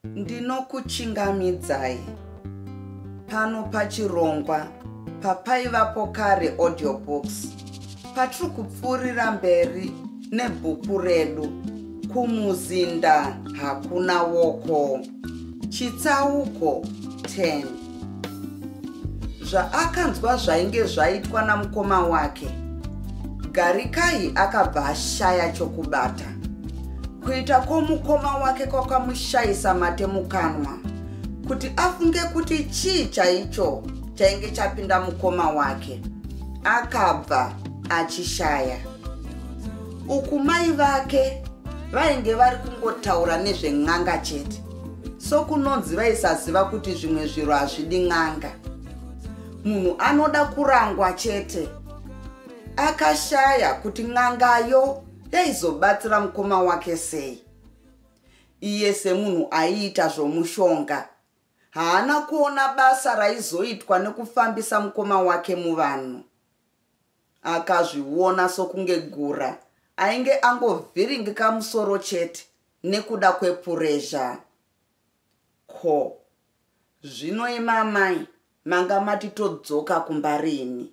Ndinokuchingamidzai pano pachirongwa papaivapo kare audiobooks patiri kupfuurira mberi nebhuku redu kumuzinda hakuna woko chitsauko 10 zvaakanzwa zvainge zvaitwa namukoma wake garikai akabva ashaya chokubata kuita kwomukoma wake kwakamushayisa mate mukanwa kuti afunge kuti chii chaicho chainge chapinda mukoma wake akabva achishaya uku mai vake vainge vari kungotaura nezven'anga chete sokunonzi vaisaziva kuti zvimwe zviro hazvidi n'anga munhu anoda kurangwa chete akashaya kuti n'angayo yaizobatsira mukoma wake sei iye semunhu aiita zvomushonga haana kuona basa raizoitwa nekufambisa mukoma wake muvanhu akazviona sokunge gura ainge angovhiringika musoro chete nekuda kwepurezha ko zvino imi amai manga mati todzoka kumba rini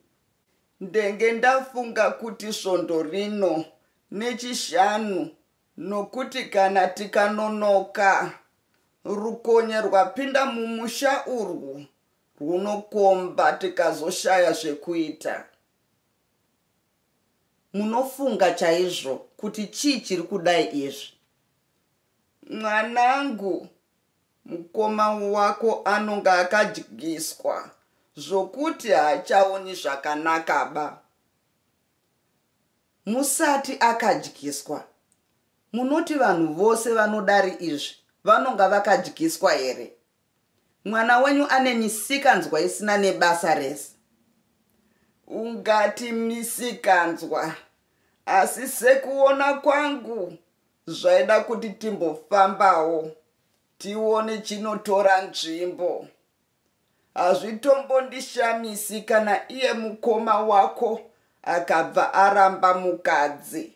ndenge ndafunga kuti svondo rino nechishanu nokuti kana tikanonoka rukonye rwapinda mumusha urwu rwunokomba tikazoshaya zvekuita munofunga chaizvo kuti chii chiri kudai izvi mwanangu mukoma wako anonga akadyiswa zvokuti haachaoni zvakanaka ba musati akadyiswa munoti vanhu vose vanodari izvi vanonga vakadyiswa here Mwana wenyu ane misikanzwa isina nebasa rese. Ungati misikanzwa asi sekuona kwangu zvaida kuti timbofambawo tione chinotora nzvimbo. Hazvitombondishamisi kana iye mukoma wako akabva aramba mukadzi.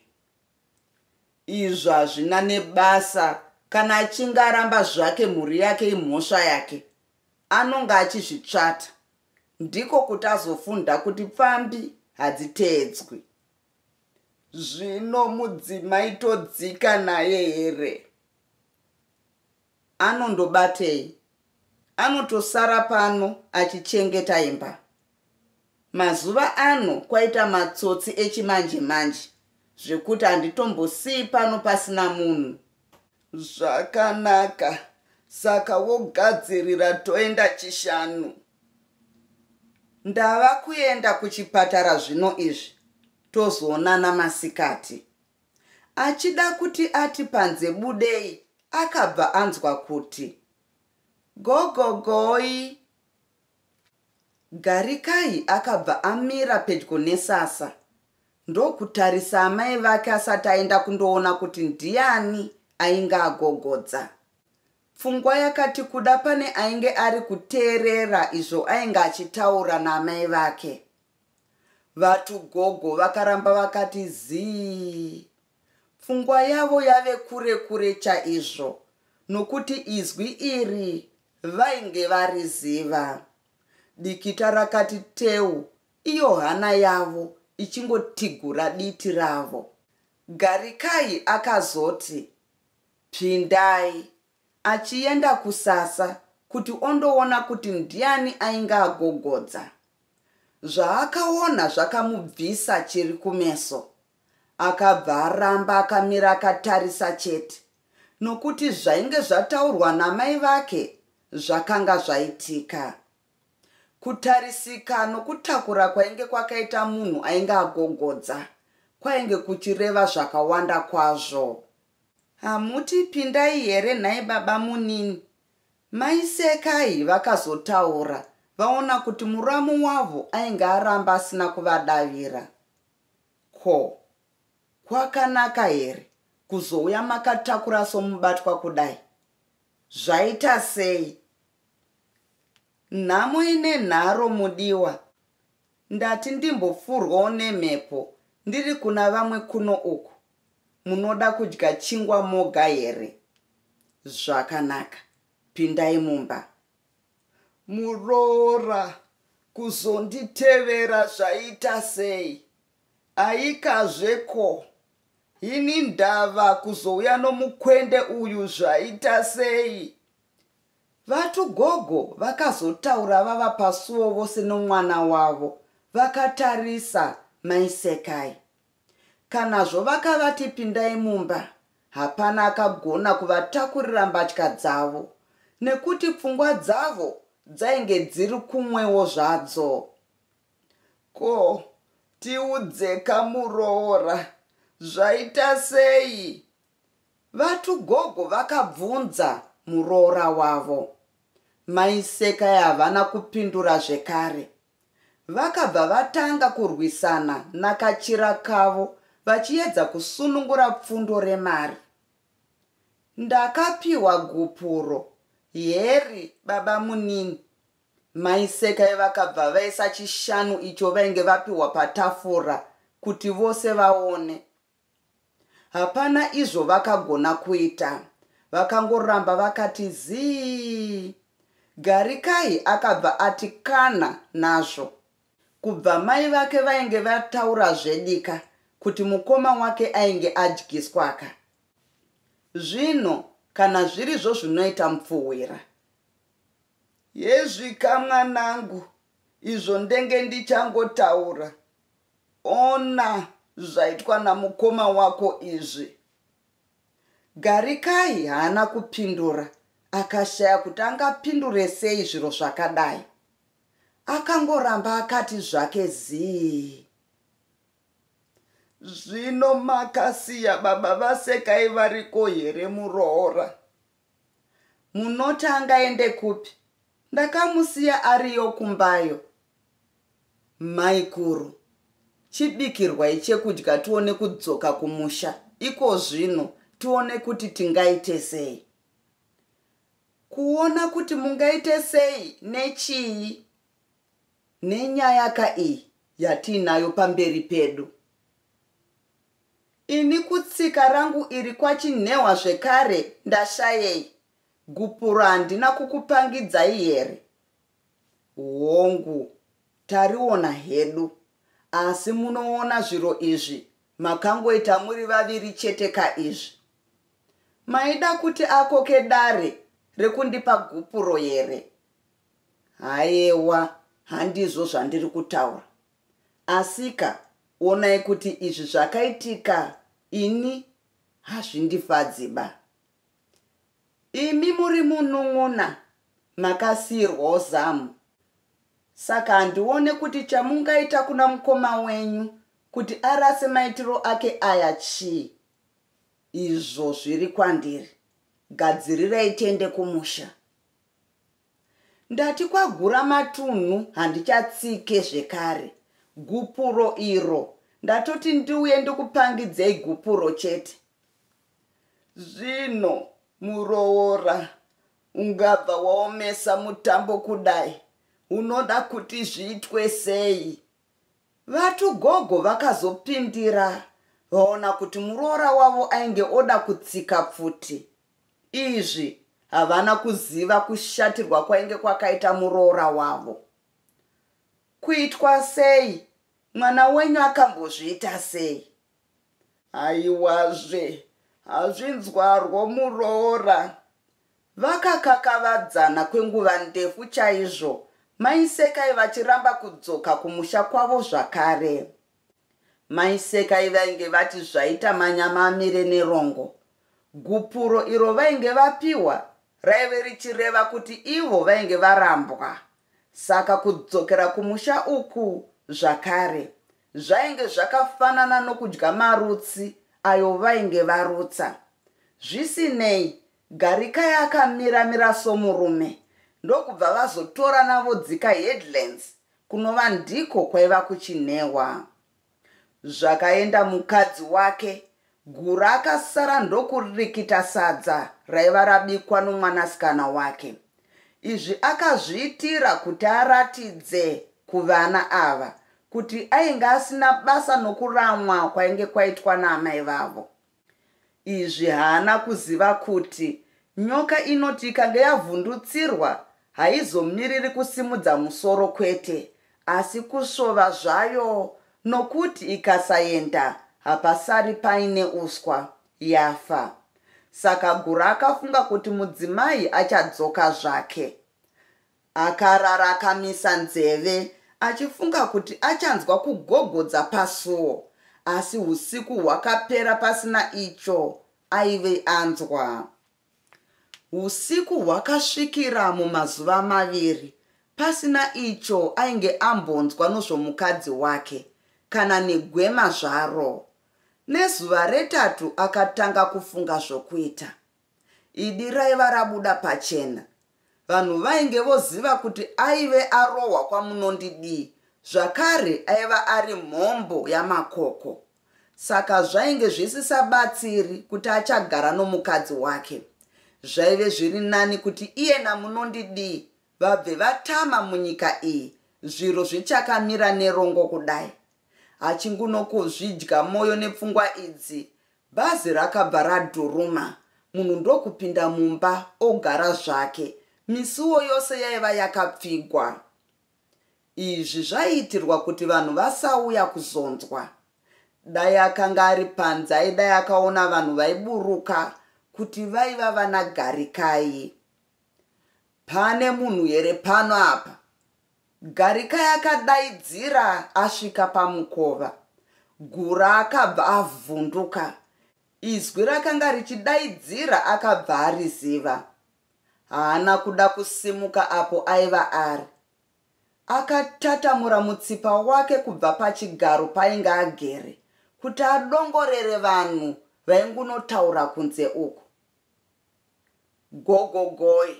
izvo hazvina nebasa kana achinge aramba zvake mhuri yake imhosva yake anonge achizvitsvata ndiko kuti azofunda kuti pfambi hadziteedzwi zvino mudzimai todzika naye here anondobatei anotosara pano achichengeta imba mazuva ano kwaita matsotsi echimanje manje zvekuti handitombosii pano pasina munhu zvakanaka saka wogadzirira toenda chishanu ndava kuenda kuchipatara zvino izvi tozoonana masikati Achida kuti ati panze budei akabva anzwa kuti gogogoi. Garikai akabva amira pedyo nesasa ndokutarisa amai vake asati aenda kundoona kuti ndiani ainge agogodza. Pfungwa yakati kuda pane ainge ari kuteerera izvo ainge achitaura naamai vake. Vatugogo vakaramba vakati zii. Pfungwa yavo yave kure kure chaizvo nokuti izwi iri vainge variziva. Dikita rakati teu iyo hana yavo ichingotigura diti ravo. Garikai akazoti, Pindai achienda kusasa kuti ondoona kuti ndiani ainge agogodza. Zvaakaona zvakamubvisa chiri kumeso. Akabva aramba akamira akatarisa chete nokuti zvainge zvataurwa namai vake zvakanga zvaitika. Kutarisika nokutakura kwainge kwakaita munhu ainge agogodza kwainge kuchireva zvakawanda kwazvo. Hamuti pindai here nhai babamunini? Mai Sekai vakazotaura vaona kuti muramu wavo ainge aramba asina kuvadavira. Ko, kwakanaka here kuzouya makatakura somubatwa kudai? Zvaita sei? Nhamo ine nharo mudiwa. Ndati ndimbopfurwawo nemhepo ndiri kuna vamwe kuno uku munoda kudya chingwa moga here zvakanaka pindai mumba muroora kuzonditevera zvaita sei aikazve ko ini ndava kuzouya nomukwende uyu zvaita sei vatugogo vakazotaura vava pasuo vose nomwana wavo vakatarisa maisekai Kanazvo vakavati pindai mumba, hapana akagona kuvatakurira mbatya dzavo nekuti pfungwa dzavo dzainge dziri kumwewo zvadzo. Ko, tiudzeka muroora, zvaita sei? VaTugogo vakabvunza muroora wavo. Mai Sekai havana kupindura zvekare. Vakabva vatanga kurwisana naKachirakavo vachiedza kusunungura pfundo remari. Ndakapiwa gupuro, Heri babamunini, Mai Sekai vakabva vaisa chishanu icho vainge vapiwa patafura kuti vose vaone. Hapana izvo vakagona kuita. Vakangoramba vakati zii. Garikai akabva ati kana nazvo. Kubva mai vake vainge vataura zvedika kuti mukoma wake ainge adyiswaka. Zvino kana zvirizvo zvinoita mupfuhwira. Hezvika mwanangu izvo ndenge ndichangotaura. Ona zvaitwa namukoma wako izvi. Garikai haana kupindura akashaya kuti angapindure sei zviro zvakadai. Akangoramba akati zvake zii. Zvino makasiya baba vasekai variko here muroora? Munoti angaende kupi? Ndakamusiya ariyo kumbayo. Maikuru, chibikirwai chekudya tione kudzoka kumusha iko zvino tione kuti tingaite sei. Kuona kuti mungaite sei nechii? Nenyaya ka iyi yatiinayo pamberi pedu. Ini kutsika rangu iri kwachinhehwa zvekare ndashayei gupuro handina kukupangidzai here hongu tariona hedu asi munoona zviro izvi makangoita muri vaviri chete ka izvi maida kuti akoke dare rekundipa gupuro here hayewa handizvo zvandiri kutaura Asika onai kuti izvi zvakaitika ini hazvindifadzi ba. Imi muri munun'una makasiirwawo zamu saka handione kuti chamungaita kuna mukoma wenyu kuti arase maitiro ake aya chii izvo zviri kwandiri gadzirirai tiende kumusha Ndati kwagura matunhu handichatsike zvekare gupuro iro ndatoti ndiuye ndikupangidzei gupuro chete zvino muroora ungabva waomesa mutambo kudai unoda kuti zviitwe sei vatugogo vakazopindira vaona kuti muroora wavo ainge oda kutsika pfuti Izvi havana kuziva kushatirwa kwainge kwakaita muroora wavo. Kuitwa sei? Mwana wenyu akambozviita sei? Haiwazve, hazvinzwarwo muroora. Vakakakavadzana kwenguva ndefu chaizvo, mai Sekai vachiramba kudzoka kumusha kwavo zvakare. Mai Sekai vainge vati zvaita manyama amire nerongo. Gupuro iro vainge vapiwa raive richireva kuti ivo vainge varambwa. Saka kudzokera kumusha uku zvakare zvainge zvakafanana nokudya marutsi ayo vainge varutsa. Zvisinei, Garikai akamira mira somurume ndokubva vazotorana vodzika headlands Kunova ndiko kwaiva kuchinehwa. Zvakaenda mukadzi wake, Gura akasara ndokurikita sadza raiva rabikwa nomwanasikana wake. Izvi akazviitira kuti aratidze kuvana ava kuti ainge asina basa nokuramwa kwainge kwaitwa naamai vavo. Izvi haana kuziva kuti nyoka inoti ikange yavhundutsirwa haizomiriri kusimudza musoro kwete asi kusvova zvayo nokuti ikasaenda hapasari paine uswa, yafa. Saka Gura akafunga kuti mudzimai achadzoka zvake. Akarara akamisa nzeve achifunga kuti achanzwa kugogodza pasuo asi husiku hwakapera pasina icho aive anzwa. Husiku hwakasvikira mumazuva maviri pasina icho ainge ambonzwa nozvomukadzi wake kana negwema zvaro. Nezuva retatu akatanga kufunga zvokuita. Idi raiva rabuda pachena. Vanhu vainge voziva kuti aive arohwa kwamunondidii zvakare aiva ari mhombo yamakoko. Saka zvainge zvisisabatsiri kuti achagara nomukadzi wake. Zvaive zviri nani kuti iye namunondidii vabve vatama munyika iyi zviro zvichakamira nerongo kudai. Achingunokuzvidya moyo nepfungwa idzi, Bhazi rakabva radhuruma munhu ndokupinda mumba ogara zvake. Misuwo yose yaiva yakapfigwa. Izvi zvaiitirwa kuti vanhu vasauya kuzonzwa. Dai akanga ari panze aidai akaona vanhu vaiburuka kuti vaiva vana Garikai. Pane munhu here pano apa? Garikai akadaidzira asvika pamukova. Gura akabva avhunduka. Izwi rakanga richidaidzira akabva ariziva. Haana kuda kusimuka apo aiva ari. Akatatamura mutsipa wake kubva pachigaro painge agere kuti adongorere vanhu vaingunotaura kunze uku. Gogogoi,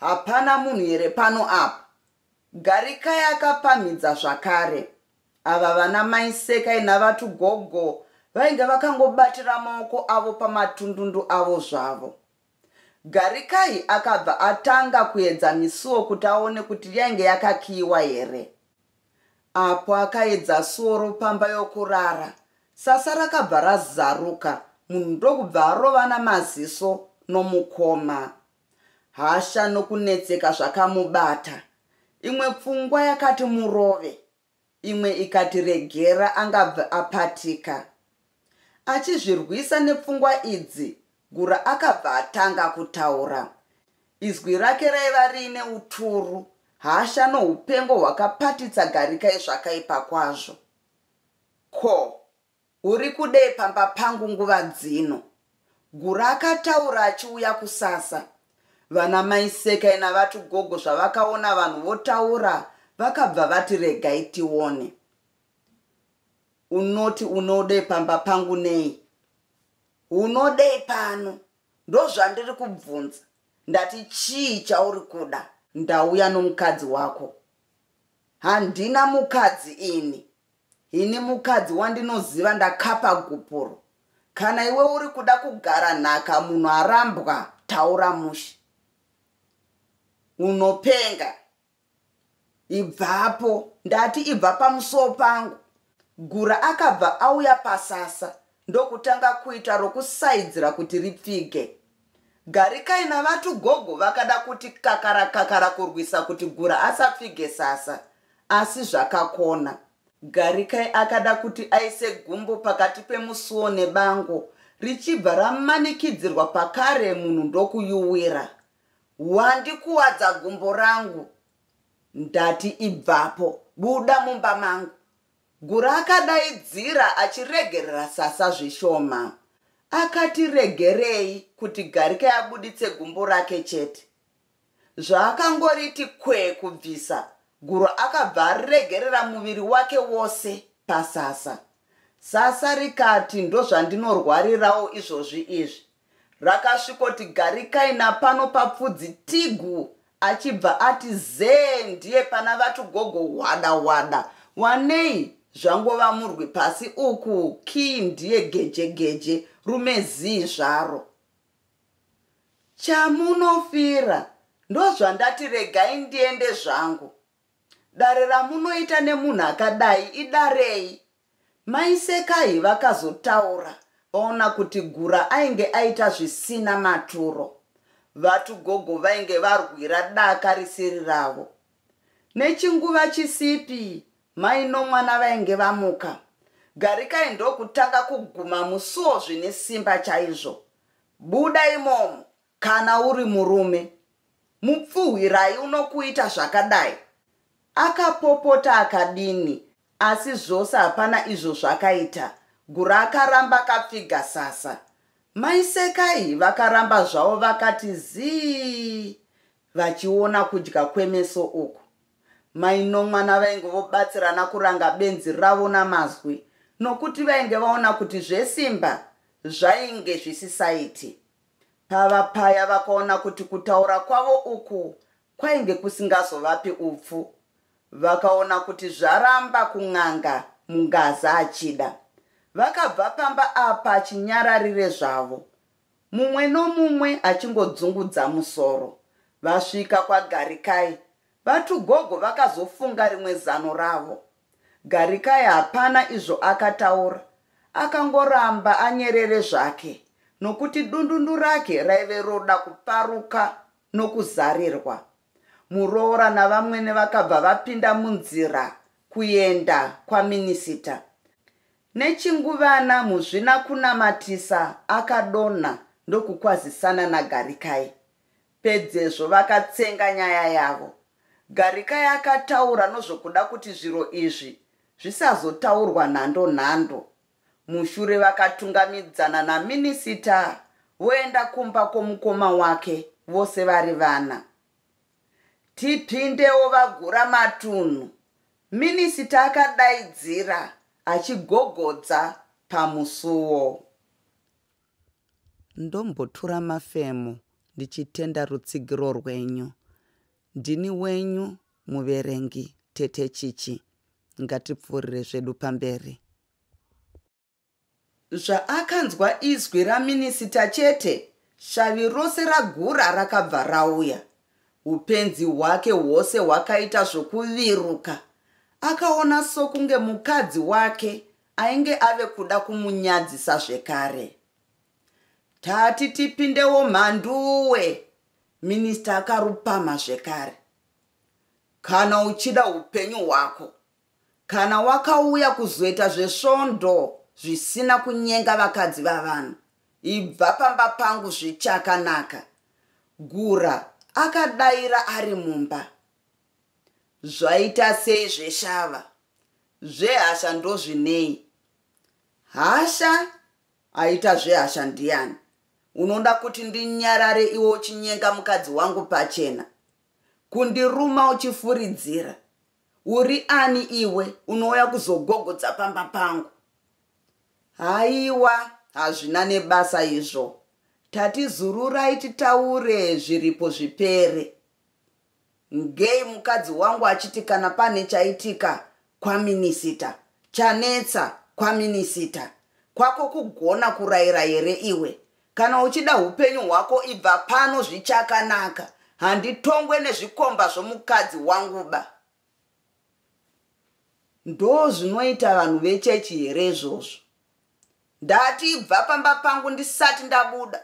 Hapana munhu here pano apa? Garikai akapamhidza zvakare. Ava vana mai Sekai navatugogo vainge vakangobatira maoko avo pamatundundu avo zvavo. Garikai akabva atanga kuedza misuwo kuti aone kuti yainge yakakiyiwa here. Apo akaedza suwo ropamba yokurara, sasa rakabva razaruka munhu ndokubva arovana maziso nomukoma. Hasha nokunetseka zvakamubata. Imwe pfungwa yakati murove, imwe ikati regera angabve apatika. Achizvirwisa nepfungwa idzi, Gura akabva atanga kutaura. Izwi rake raiva riine uturu, hasha noupengo hwakapatitsa Garikai zvakaipa kwazvo. Ko, Uri kudei pamba pangu nguva dzino? Gura akataura achiuya kusasa. Vana mai Sekai naVaTugogo zvavakaona vanhu votaura vakabva vati regai tione. Unoti unodei pamba pangu nei? Unodei pano? Ndozvandiri kubvunza. Ndati chii chauri kuda? Ndauya nomukadzi wako. Handina mukadzi ini. Ini mukadzi wandinoziva ndakapa gupuro. Kana iwe uri kuda kugara nhaka munhu arambwa taura mushe. Unopenga. Ibvapo ndati ibva pamusuwo pangu. Gura akabva auya pasasa ndokutanga kuita rokusaidzira kuti ripfige. Garikai navatu gogo vakada kuti kakara kakara kurwisa kuti gura asapfige sasa asi zvakakona. Garikai akada kuti aise gumbo pakati pemusuwo nebango richibva ramanikidzirwa pakare munhu ndokuyuwira. Wandikuwadza gumbo rangu ndati ibvapo buda mumba mangu. Gura akadaidzira achiregerera Sasa zvishoma. Akati regerei kuti Garike abuditse gumbo rake chete. Zvaakangoriti kwe kubvisa, Guru akabva aregerera muviri wake wose paSasa. Sasa rikati ndozvandinorwarirawo izvozvi izvi. Rakasvikoti garikai napano papfudzi tigu achibva ati zee ndiye pana vati gogo hwada hwada wanei zvangova murwi pasi uku kii ndiye geje geje rume zii zvaro chamunofira ndozvandati regai ndiende zvangu dare ramunoita nemunhu akadai idarei Mai Sekai vakazotaura vaona kuti Gura ainge aita zvisina maturo. Vatu gogo vainge varwira daka risiri ravo. Nechinguva chisipi mai nomwana vainge vamuka. Garikai ndokutanga kuguma musuo zvine simba chaizvo. Buda imomo, Kana uri murume, mupfuhwirai unokuita zvakadai? Akapopota akadini asi zvose hapana izvo zvakaita. Gura akaramba akapfiga sasa. Mai Sekai vakaramba zvavo vakati zii vachiona kudya kwemeso uku. Mai Nomwana vainge vobatsirana kuranga benzi ravo namazwi nokuti vainge vaona kuti zvesimba zvainge zvisisaiti. Pava paya vakaona kuti kutaura kwavo uku kwainge kusingazovapi upfu. Vakaona kuti zvaramba kun'anga Mungaza achida. Vakabva pamba apa chinyararire zvavo. Mumwe nomumwe achingodzungudza musoro. Vasvika kwaGarikai, VaTugogo vakazofunga rimwe zano ravo. Garikai hapana izvo akataura akangoramba anyerere zvake nokuti dundundu rake raive roda kuparuka nokuzarirwa. Muroora navamwene vakabva vapinda munzira kuenda kwaminisita. Nechinguvana Muzvinakunamatisa akadonha ndokukwazisana naGarikai. Pedzezvo vakatsenga nyaya yavo. Garikai akataura nozvokuda kuti zviro izvi zvisazotaurwa nhando nhando. Mushure vakatungamidzana naminisita voenda kumba kwomukoma wake vose vari vana. Tipindewo vagura matunhu, minisita akadaidzira achigogodza pamusuwo. Ndombotura mafemo ndichitenda rutsigiro rwenyu. Ndini wenyu muverengi Tete Chichi. Ngatipfuurire zvedu pamberi. Zvaakanzwa izwi raminisita chete, shavi rose raGura rakabva rauya. Upenzi hwake hwose hwakaita zvokuviruka. Akaona sokunge mukadzi wake Ainge ave kuda kumunyadzisa zvekare. Tati tipindewo mhanduwe, minista akarupama zvekare. Kana uchida upenyu hwako, kana wakauya kuzoita zvesvondo zvisina kunyenga vakadzi vavanhu, ibva pamba pangu zvichakanaka. Gura akadaira ari mumba. Zvaita sei zveshava? Zvehasha ndozvinei? Hasha aita zvehasha ndiani? Unoda kuti ndinyarare iwe uchinyenga mukadzi wangu pachena? Kundiruma uchifuridzira? Uri ani iwe unouya kuzogogodza pamba pangu? Haiwa, hazvina nebasa izvo. Tatizururai titaure zviripo zvipere. ngei mukadzi wangu achiti kana pane chaitika kwaminisita chanetsa kwaminisita kwako kugona kurayira here iwe kana uchida upenyu hwako ibva pano zvichakanaka handitongwe nezvikomba zvomukadzi wangu ba ndo zvinoita vanhu vechechi here izvozvo ndati ibva pamba pangu ndisati ndabuda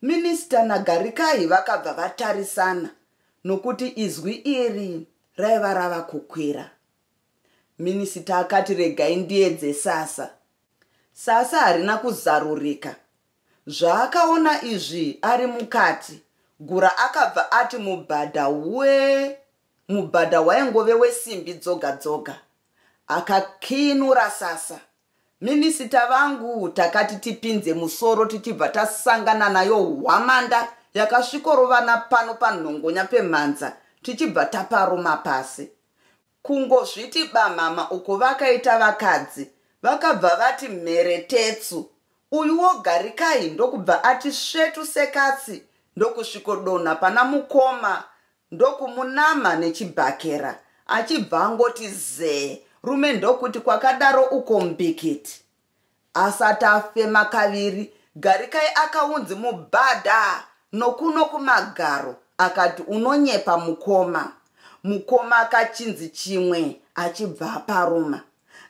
Minister naGarikayi vakabva vatarisana nokuti izwi iri raiva rava kukwira. Minisita akati regai ndiedze sasa. Sasa harina kuzarurika. Zvaakaona izvi ari mukati, Gura akabva ati mubhadha we mubhadha waingove wesimbi dzoga dzoga. Akakiinura sasa. Minisita vangu takati tipinze musoro tichibva tasangana nayo hwamanda yakasvikorovana pano panhongonya pemhanza tichibva taparuma pasi. Kungozviti bamhama uko vakaita vakadzi vakabva vati mhere tetsu uyuwo Garikai ndokubva ati svetu sekatsi ndokusvikodonha pana mukoma ndokumunama nechibhakera achibva angoti zee rume ndokuti kwakadaro uko mbikiti asati afema kaviri garikai akaunzi mubhadha nokuno kumagaro akati unonyepa mukoma mukoma akachinzi chimwe achibva aparuma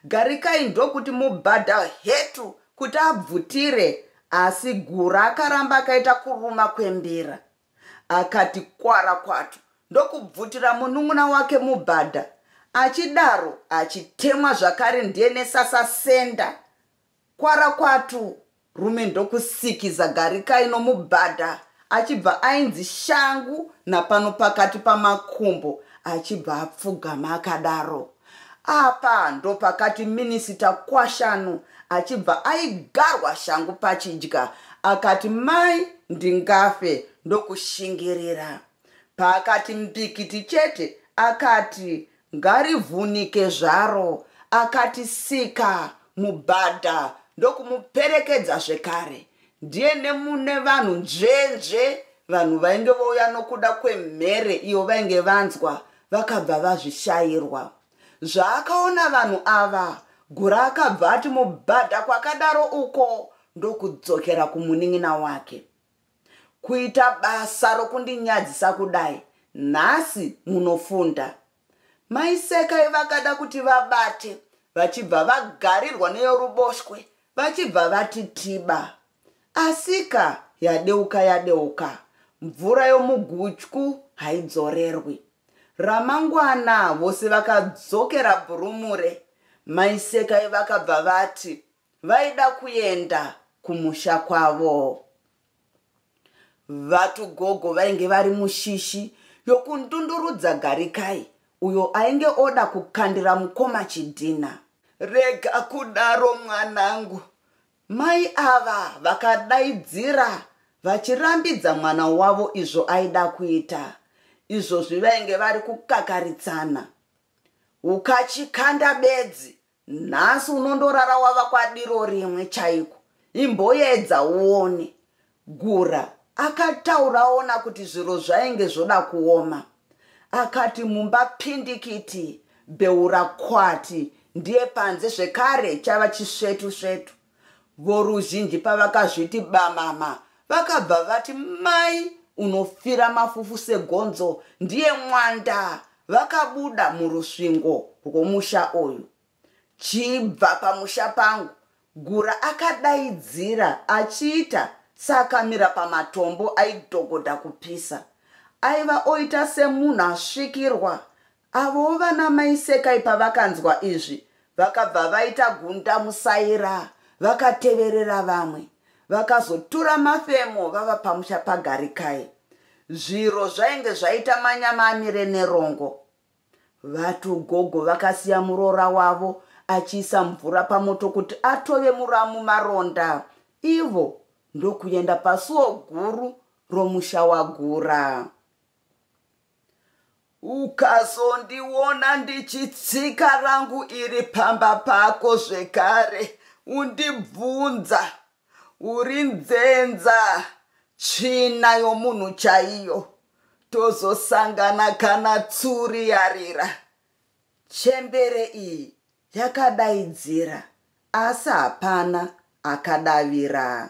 garikai ndokuti mubhadha hetu kuti abvutire asi gura akaramba akaita kuruma kwembira akati kwara kwatu ndokubvutira munun'una wake mubhadha achidaro achitemwa zvakare ndiye nesasasenda kwara kwatu rume ndokusikiza garikai nomubhadha achibva ainzi shangu napano pakati pamakumbo achibva apfugama akadaro Apa ndopakati minisita Kwashanu achibva aigarwa shangu pachidya akati mai ndingafe ndokushingirira. Paakati mbikiti chete akati ngarivhunike zvaro akati sika mubhadha ndokumuperekedza zvekare. ndiye nemune vanhu nzvenzve vanhu vainge vouya nokuda kwemhere iyo vainge vanzwa vakabva vazvishairwa zvaakaona vanhu ava gura akabva ati mubhadha kwakadaro uko ndokudzokera kumunin'ina wake kuita basa rokundinyadzisa kudai nhasi munofunda Mai Sekai vakada kuti vabate vachibva vagarirwa neyoruboshwe vachibva vati tiba. Asika yadeuka yadeuka, mvura yomugutyu haidzorerwi. Ramangwana vose vakadzokera Bhurumure. Mai Sekai vakabva vati, vaida kuenda kumusha kwavo vatugogo vainge vari mushishi yokundundurudza garikai uyo ainge oda kukandira mukoma chidhina rega kudaro mwanangu mai ava vakadaidzira vachirambidza mwana wavo izvo aida kuita izvozvi vainge vari kukakaritsana ukachikanda bedzi nhasi unondorara wava kwadiro rimwe chaiko imboyedza uone gura akataura aona kuti zviro zvainge zvoda kuoma akati mumba pindikiti beura kwati ndiye panze zvekare chava chisvetu svetu Voruzhinji pavakazviti bamama vakabva vati mai unofira mafufu segonzo ndiye mwanda vakabuda murusvingo rwomusha uyu chibva pamusha pangu gura akadaidzira achiita saakamira pamatombo aidhogodha kupisa aiva oita semunhu asvikirwa Avowo vana mai Sekai pavakanzwa izvi vakabva vaita gunda musaira vakateverera vamwe vakazotura mafemo vava pamusha paGarikai. Zviro zvainge zvaita manyama amire nerongo. Vatugogo vakasiya muroora wavo achiisa mvura pamoto kuti atove muramu maronda ivo ndokuenda pasuo guru romusha wagura. ukazondiona ndichitsika rangu iri pamba pako zvekare undibvunza uri nzenza tsvina yomunhu chaiyo tozosangana kana tsuri yarira chembere iyi yakadaidzira asi hapana akadavira